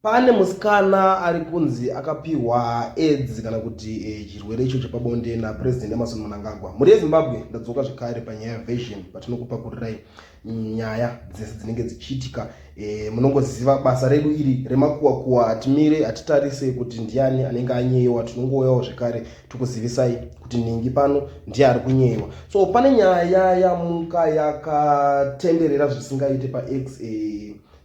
Pane musikana ari kunzi akapihwa aids kana kuti eh, chirwere icho chepabonde naPresident Emmerson Mnangagwa. Mhuri yeZimbabwe ndadzoka zvekare panyaya Vision patinokupakurirai nyaya dzese dzinenge dzichiitika. Eh, munongoziva basa redu iri remakuwa kuwa, hatimire hatitarise kuti ndiani anenge anyeyewa, tinongouyawo zvekare tikuzivisai kuti ningi pano ndiye ari kunyeyewa. So pane nyaya yamuka yakatenderera zvisingaite paX eh,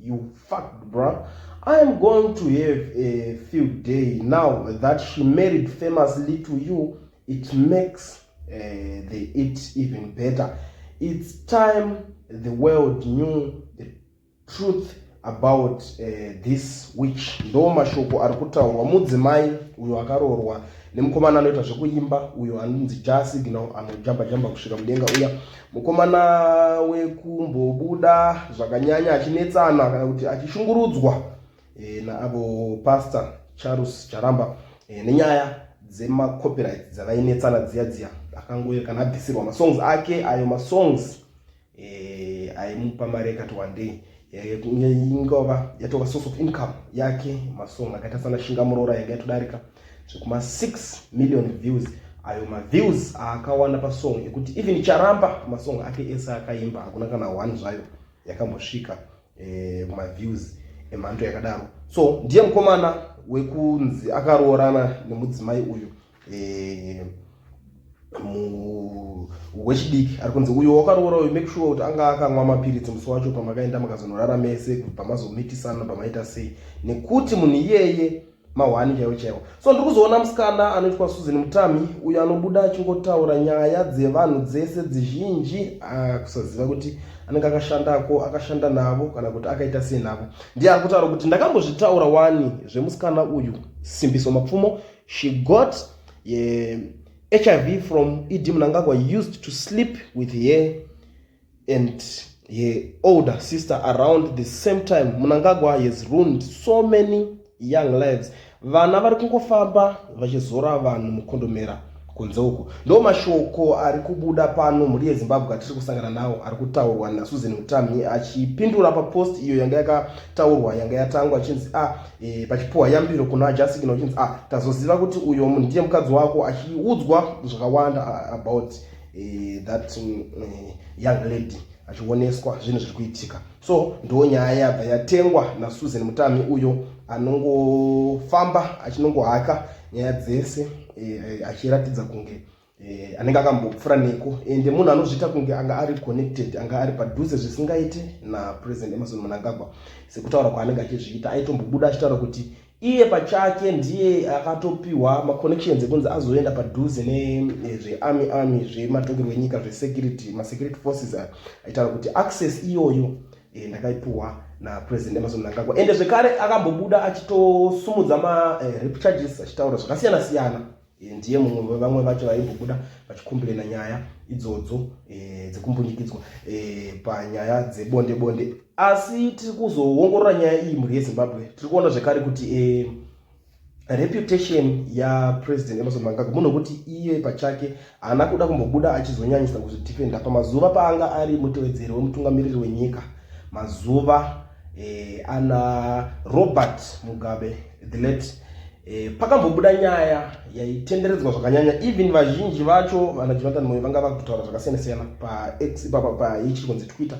You fucked bro. I am going to have a few day now that she married famously to you. It makes uh, the it even better. It's time the world knew the truth about uh, this witch. Ndo mashoko ari kutaurwa mudzimai uyo akaroorwa nemukomana anoita zvekuimba uyo anonzi Jah Signal anojamba jamba kusvika mudenga uya Mukomana wekumbobuda zvakanyanya achinetsana kana kuti achishungurudzwa e, naavo pastor Charles Charamba e, nenyaya dzemacopyright dzavainetsana dziya dziya akangoe kana abvisirwa masongs ake ayo masongs e, aimupa mari yakati wandei Eh, ingova yatova source of income yake masong akaita sana shinga muroora yanga yatodarika zvekuma 6 million views ayo maviews aakawana pasong ekuti even charamba masong ake ese akaimba hakuna kana one zvayo yakambosvika eh, maviews emhando yakadaro so ndiye mukomana wekunzi akaroorana nemudzimai uyu wechidiki ari kunzi uyo wakaroora uyu make sure kuti anga akanwa mapiritsi musi wacho pamakaenda makazonorara mese kubva mazomitisana pamaita sei nekuti munhu iyeye mahwani chaiwo chaiwo so ndiri kuzoona musikana anoitwa susan mutami uyo anobuda achingotaura nyaya dzevanhu dzese dzizhinji ah, kusaziva kuti anenge akashandako akashanda navo kana kuti akaita sei navo ndiye ari kutaura kuti ndakambozvitaura wani zvemusikana uyu simbiso mapfumo she got uh, hiv from ed mnangagwa used to sleep with her and her older sister around the same time mnangagwa has ruined so many young lives vana vari kungofamba vachizora vanhu mukondomera kunze uku ndo mashoko ari kubuda pano mhuri yezimbabwe atiri kusangana nawo ari kutaurwa nasusan mutami achipindura papost iyo yanga yakataurwa yanga yatangwa achinzi a ah, e, pachipuwa yambiro kuna ajasikina uchinzi ah, tazoziva kuti uyo munhu ndiye mukadzi wako achiudzwa zvakawanda ah, about e, that um, young lady achioneswa zvinhu zviri kuitika so ndo nyaya yabva yatengwa nasusan mutami uyo anongofamba achinongohaka nyaya dzese e, achiratidza kunge eh, anenge akambopfura neko ende eh, munhu anozviita kunge anga ari connected anga ari padhuze zvisingaite napresident emerson munangagwa sekutaura kwaanenge achizviita aitombobuda achitaura kuti iye pachake ndiye akatopiwa maconnections ekunzi azoenda padhuze nezvearmy eh, army zvematongerwo enyika zvesecurity masecurity forces aitaura kuti access iyoyo e, ndakaipiwa napresident emerson munangagwa ende zvekare akambobuda achitosumudza marep charges achitaura zvakasiyana siyana Eh, ndiye mumwe vevamwe vacho vaimbobuda vachikumbirena nyaya idzodzo eh, dzekumbunyikidzwa eh, panyaya dzebonde bonde asi tiri kuzoongorora nyaya iyi mhuri yezimbabwe tiri kuona zvekare kuti reputation yapresident emerson mangaga munhu wekuti iye pachake haana kuda kumbobuda achizonyanyisa kuzvidefenda pamazuva paanga ari mutevedzeri wemutungamiriri wenyika mazuva ana robert mugabe the late eh, pakambobuda nyaya yaitenderedzwa zvakanyanya even vazhinji vacho vana jonathan moyo vanga vakutaura zvakasiyana siyana pax paichiri kunzi twitter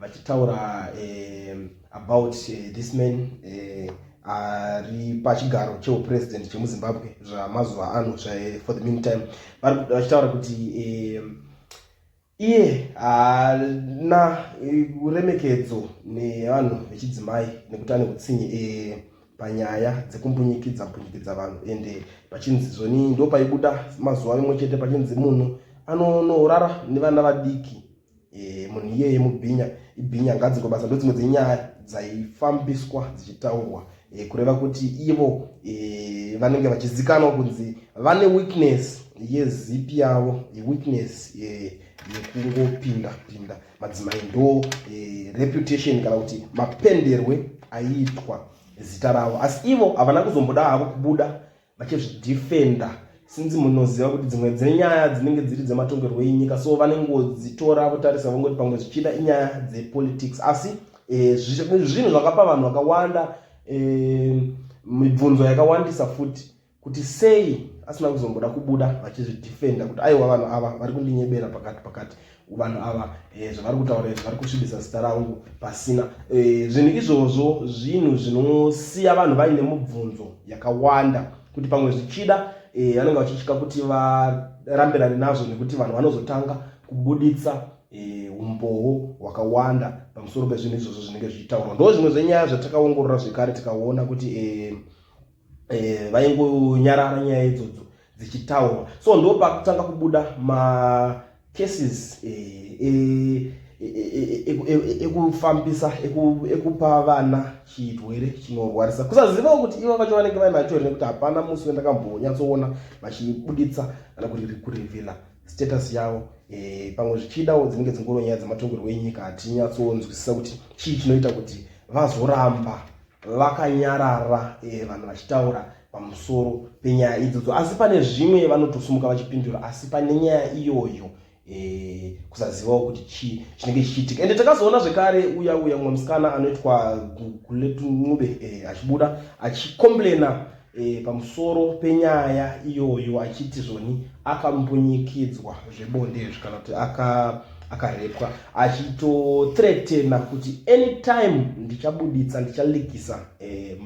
vachitaura eh, about eh, this man eh, ari pachigaro cheupresident chemuzimbabwe zvamazuva ano zvae for the meantime vachitaura kuti eh, Iye haana uremekedzo nevanhu vechidzimai nekuti ane utsinye eh, panyaya dzekumbunyikidza mbunyikidza vanhu ende eh, pachinzi zvoni ndo paibuda mazuva imwe chete pachinzi munhu anonorara nevana vadiki eh, munhu iyeye mubhinya ibhinya ngadzingobasa ndodzimwe dzenyaya dzaifambiswa dzichitaurwa e, kureva kuti ivo e, vanenge vachizikanwa kunzi vane weakness yezipi yavo weakness e, yekungopinda pinda madzimai ndo e, reputation kana kuti mapenderwe aiitwa zita ravo asi ivo havana kuzomboda havo kubuda vachizvidefender since munoziva kuti dzimwe dzenyaya dzinenge dziri dzematongerwo enyika so vanengodzitora votarisa vongoti pamwe zvichida inyaya dzepolitics asi eh, zvinhu zvakapa vanhu vakawanda eh, mibvunzo yakawandisa futi kuti sei asina kuzomboda kubuda vachizvidefenda kuti aiwa vanhu ava vari kundinyebera pakati pakati vanhu ava eh, zvavari kutaura izvi vari kusvibisa zita rangu pasina eh, zvinhu izvozvo zvinhu zvinosiya vanhu vaine mubvunzo yakawanda kuti pamwe zvichida eh, vanenge vachitya kuti varambirane nazvo nekuti vanhu vanozotanga kubuditsa eh, umbowo eh, hwakawanda pamusoro pezvinhu izvozvo zvinenge zvichitaurwa ndo zvimwe zvenyaya zvatakaongorora zvekare tikaona kuti eh, eh, vaingonyarara nyaya idzodzo dzichitaurwa so ndo pakutanga kubuda macases eh, eh, eh, ekufambisa ekupa vana chirwere chinorwarisa kusazivawo kuti ivo vacho vanenge vai mature nekuti hapana musi wendakambonyatsoona vachibuditsa kana kuti kurevhela status yavo pamwe zvichidawo dzinenge dzingoro nyaya dzematongerwo enyika hatinyatsonzwisisa kuti chii chinoita kuti vazoramba vakanyarara vanhu vachitaura pamusoro penyaya idzodzo asi pane zvimwe vanotosimuka vachipindura asi pane nyaya iyoyo e, kusazivawo kuti chii chinenge chichiitika ende takazoona zvekare uya uya mumwe musikana anoitwa guletunube e, eh, achibuda achikomplena e, pamusoro penyaya iyoyo achiti zvoni akambunyikidzwa zvebondezvi kana kuti aka akarepwa achitotretena kuti anytime ndichabuditsa ndichalikisa e,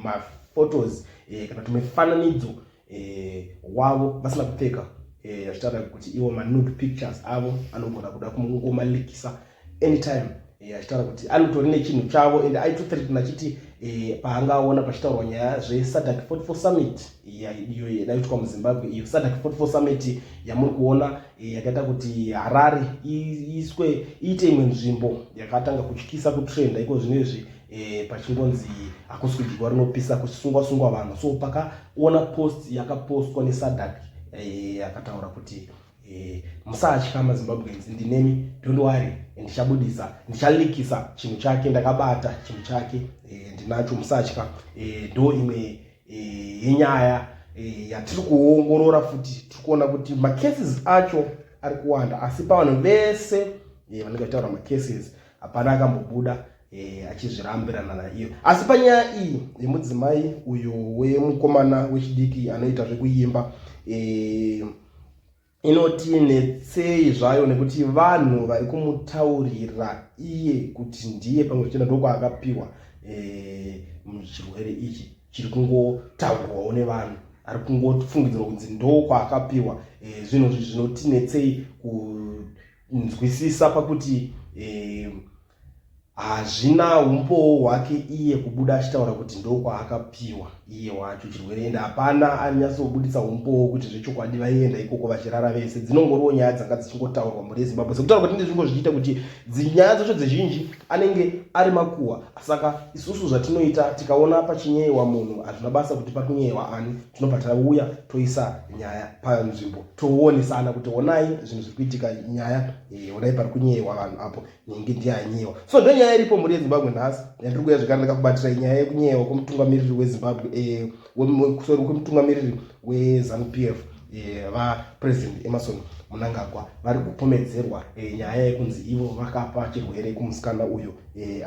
photos eh, kana tumifananidzo eh, wavo vasina kupfeka eh, achitaura eh, kuti iwo manude pictures avo anogona kuda kungomalikisa anytime eh, achitaura eh, kuti anotori nechinhu chavo and aitothreatna achiti eh, paangaona pachitaurwa nyaya zvesadak 44 summit iyo eh, yaiitwa muzimbabwe iyo sadak 44 summit yamuri kuona eh, yakaita kuti harare iiswe iite imwe nzvimbo yakatanga kutyisa kutrenda iko zvino izvi e, pachingonzi hakusi kudyiwa rinopisa kusungwa sungwa vanhu so pakaona post yakapostwa nesadak e, akataura kuti e, musatya mazimbabweans ndinemi don't worry ndichabudisa ndichalikisa chinhu chake ndakabata chinhu chake e, ndinacho musatya e, ndo imwe e, yenyaya e, yatiri kuongorora futi tiri kuona kuti macases acho ari kuwanda asi pavanhu vese e, vanenge vataura macases hapana akambobuda eh, achizvirambirana naiyo asi panyaya iyi yemudzimai uyo wemukomana wechidiki anoita zvekuimba eh, inoti netsei zvayo nekuti vanhu vari kumutaurira iye kuti ndiye pamwe zvichenda ndokwaakapiwa eh, muchirwere ichi chiri kungotaurwawo nevanhu ari kungofungidzirwa kunzi ndokwaakapiwa eh, zvinhu zvi zvinotinetsei ku nzwisisa pakuti eh, hazvina um, umbowo hwake iye kubuda achitaura kuti ndokwaakapiwa iye wacho chirwere ende hapana anyatsobudisa umbowo kuti zvechokwadi vaienda ikoko vachirara vese dzinongoriwo nyaya dzanga dzichingotaurwa mhuri yezimbabwe sekutaura kuti ndizvingo zvichiita kuti nyaya dzacho dzizhinji anenge ari makuhwa saka isusu zvatinoita tikaona pachinyeyewa munhu hazvina basa kuti pakunyeyewa ani tinobva tauya toisa nyaya panzvimbo toonesana kuti honai zvinhu zviri kuitika nyaya eh, honai pari kunyeyewa vanhu apo nyenge ndiye anyeyewa so ndo nyaya iripo mhuri yezimbabwe nhasi yandiri kuya zvekare ndakakubatira nyaya yekunyeyewa kwemutungamiriri wezimbabwe eh, sorry kwemutungamiriri wezanu p f eh, vapresident emerson munangagwa vari kupomedzerwa nyaya yekunzi ivo vakapa chirwere kumusikana uyo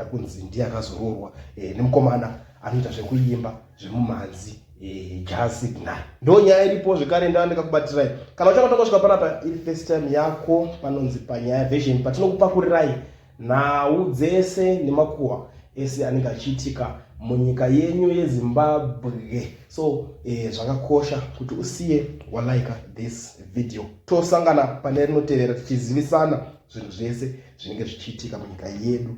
akunzi ndiye akazoroorwa nemukomana anoita zvekuimba zvemumhanzi eh, jazz signal ndo nyaya iripo zvekare ndava ndikakubatirai kana uchakota kusvika panapa iri first time yako panonzi panyaya version patinokupakurirai nhau dzese nemakuhwa ese anenge achiitika munyika yenyu yezimbabwe so eh, zvakakosha kuti usiye walike this video tosangana pane rinotevera tichizivisana zvinhu zvese zvinenge zvichiitika munyika yedu